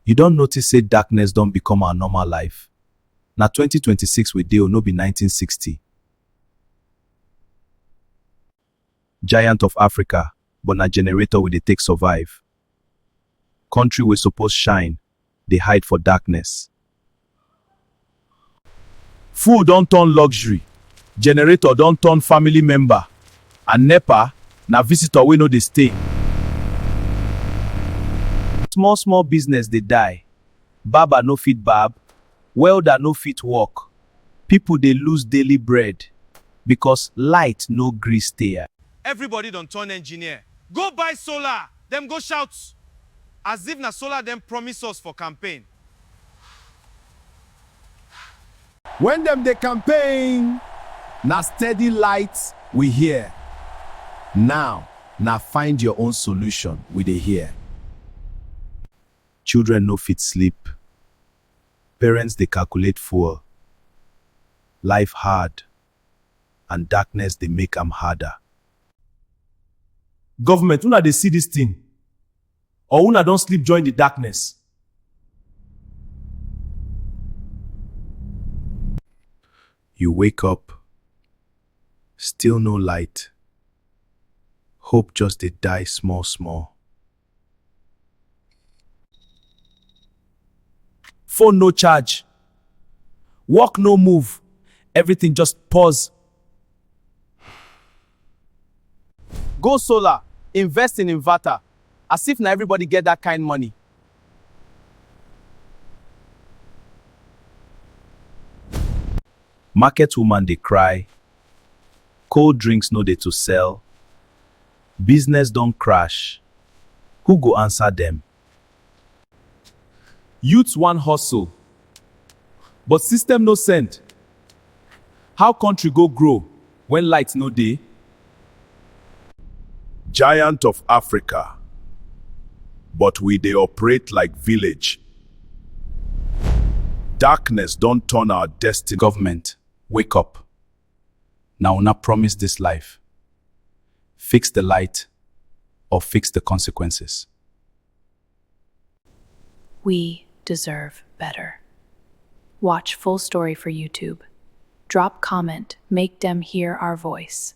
You don notice say darkness don become our normal life? Na 2026 we dey o, no be 1960. Giant of Africa, but na generator we dey take survive. Country wey suppose shine dey hide for darkness. Fuel don turn luxury, generator don turn family member and nepa na visitor wey no dey stay. Small small business dey die, barber no fit barb, welder no fit work, people dey lose daily bread because light no gree stay. Everybody don turn engineer, go buy solar, dem go shout as if na solar dem promise us for campaign. When dem dey campaign, na steady light we hear, now na find your own solution we dey hear. Children no fit sleep, parents dey calculate fuel, life hard and darkness dey make am harder. Government, una dey see this thing? or una don sleep join the darkness? You wake up, still no light. Hope just dey die small small. Phone no charge, work no move, everything just pause. Go solar, invest in inverter, as if na everybody get that kind money. Market woman dey cry, cold drinks no dey to sell, business don crash, who go answer dem? Youths wan hustle but system no send How country go grow when light no dey? Giant of Africa but we dey operate like village Darkness don turn our destiny. Government wake up Na una promise this life. Fix the light or fix the consequences. We deserve better. Watch full story for YouTube. Drop comment, make dem hear our voice.